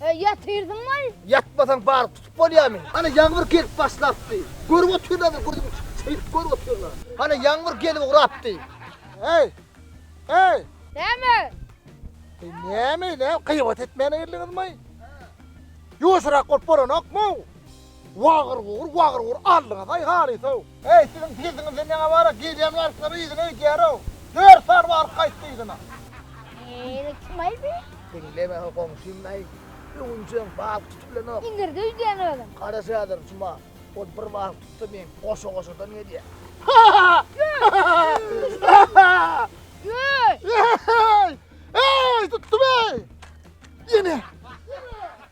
He, ýatyrdyňmy? Ýatmasaň baryp tutup bolýamy? Hany ýagmyr gelip başlapdy. Görüp otyrlaňmy, gözümi çyýryp görüp otyrlaň. Hany ýagmyr gelip ugrapdy. Heý! Heý! Näme? Heý, näme, näme, gybat etmäne geldiňizmi? Ýuwaşyrak bolup bolanokmy? Wagyr-wugur, wagyr-wugur aldyňyz-aý halysow! Äý, siziň pizziňizde neňe bar-a? Gelýän wagtlar yzyna öýdýär-ow! Dört sany baryp gaýtdy yzyna. Ýene kim-aý bu? Diňleme-hä goňşym-laý, öwünjegiň bal tutup bilenok. Iňirde öýdýän özem. Garaş häzir, Juma. Ol bir bal tutsa, meň goşa-goşadan gelýär. Öý! Öý! Äý! Äý! Tutdum-eý! Ýene.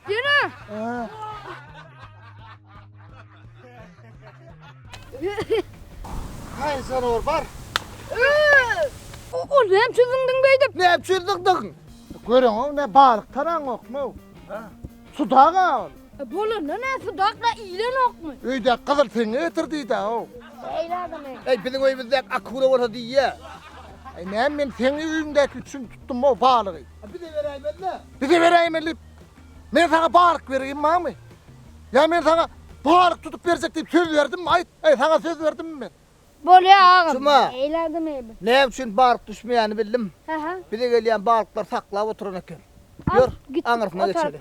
Ýene. Haýy janawar bar. Ol näme çüzdüň beýdip? Näme çüzdüň? Göreňok ne balyk taraňokmy? Ha. Sudaga ol. E, Bolanda ne sudakla ilenokmy? Öýde gyzyl teňe getir diýdi o. Eýle adam ey. Ey biziň öýümizde akula bolsa diýýä. Ey näme men seň öýüňdäki üçin tutdum o balygy. Bize beräýmeli. Bize beräýmeli. Men sana balyk bereyim mami. Ya men sana balyk tutup berjek deyip söz verdim mi? Ayt. Ay sana söz verdim mi men? Bolya ağam. Cuma. Eyledi mi? Ne için balık düşmeyeni bildim. Aha. Bize gelen balıklar saklap oturan eken. Yor. Git. Anırsına geçelim.